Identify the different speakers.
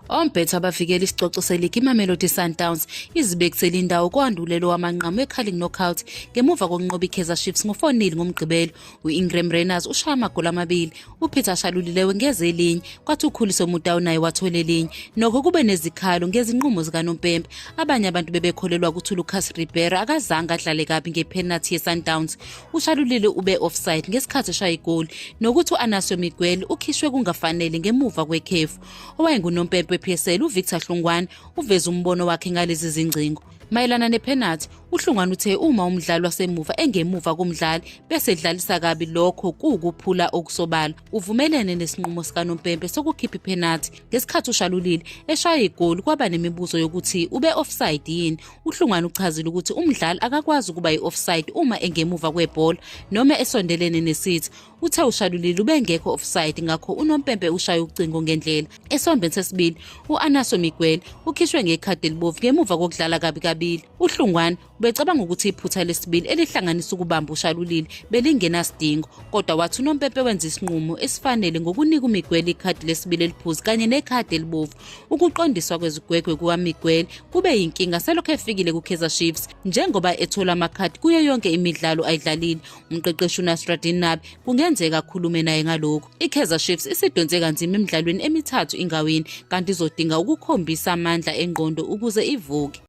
Speaker 1: Ombhetho abavikela isicoco seligi iMamelodi Sundowns izibekisele indawo kwandulelo wamanqamu eCarling Knockout ngemuva kokunqoba iKaizer Chiefs ngo-4-0 ngoMgqibelo. U-Ingram Rayners ushaya amagoli amabili, uPeter Shalulilewe ngeze elinye, kwathi uKhuliso Mudau naye wathola elinye. Nokho kube nezikhalo ngezinqumo zikanompempe. Abanye abantu bebekholelwa ukuthi uLucas Ribeiro akazange adlale kabi ngephenathi yeSundowns. ushalulile ube offside ngesikhathi eshaya igoli nokuthi u-anasio miguel ukhishwe kungafanele ngemuva kwekhefu owayengunompempe we-psl uvictor hlungwane uveze umbono wakhe ngalezi zingcingo mayelana nephenathi uhlungwane uthe uma umdlali wasemuva engemuva komdlali bese edlalisa kabi lokho kuwukuphula okusobala uvumelene nesinqumo sikanompempe sokukhipha iphenathi ngesikhathi ushalulile eshaya igoli kwaba nemibuzo yokuthi ube-offside yini UHlungwane uchazile ukuthi umdlali akakwazi ukuba yi-offside uma engemuva kwebhola noma esondelene nesithi. Uthe ushalulile ubengekho offside ngakho unompempe ushaye ucingo ngendlela. Esombeni sesibili, u-Anaso Miguel ukhishwe ngekhadi elibovu ngemuva kokudlala kabi kabili. UHlungwane ubecabanga ukuthi iphutha lesibili elihlanganisa ukubamba ushalulile belingenasidingo kodwa wathi unompempe wenza isinqumo esifanele ngokunika umiguel ikhadi lesibili eliphuzi kanye nekhadi elibovu Ukuqondiswa kwezigwegwe kukaMiguel kube yinkinga selokhu efikile kuKaizer Chiefs njengoba ethola amakhadi kuyo yonke imidlalo ayidlalile. Umqeqeshi uNasruddin Nabi kungenzeka akhulume naye ngalokhu. IKaizer Chiefs isidonse kanzima emidlalweni emithathu ingawini kanti izodinga ukukhombisa amandla engqondo ukuze ivuke.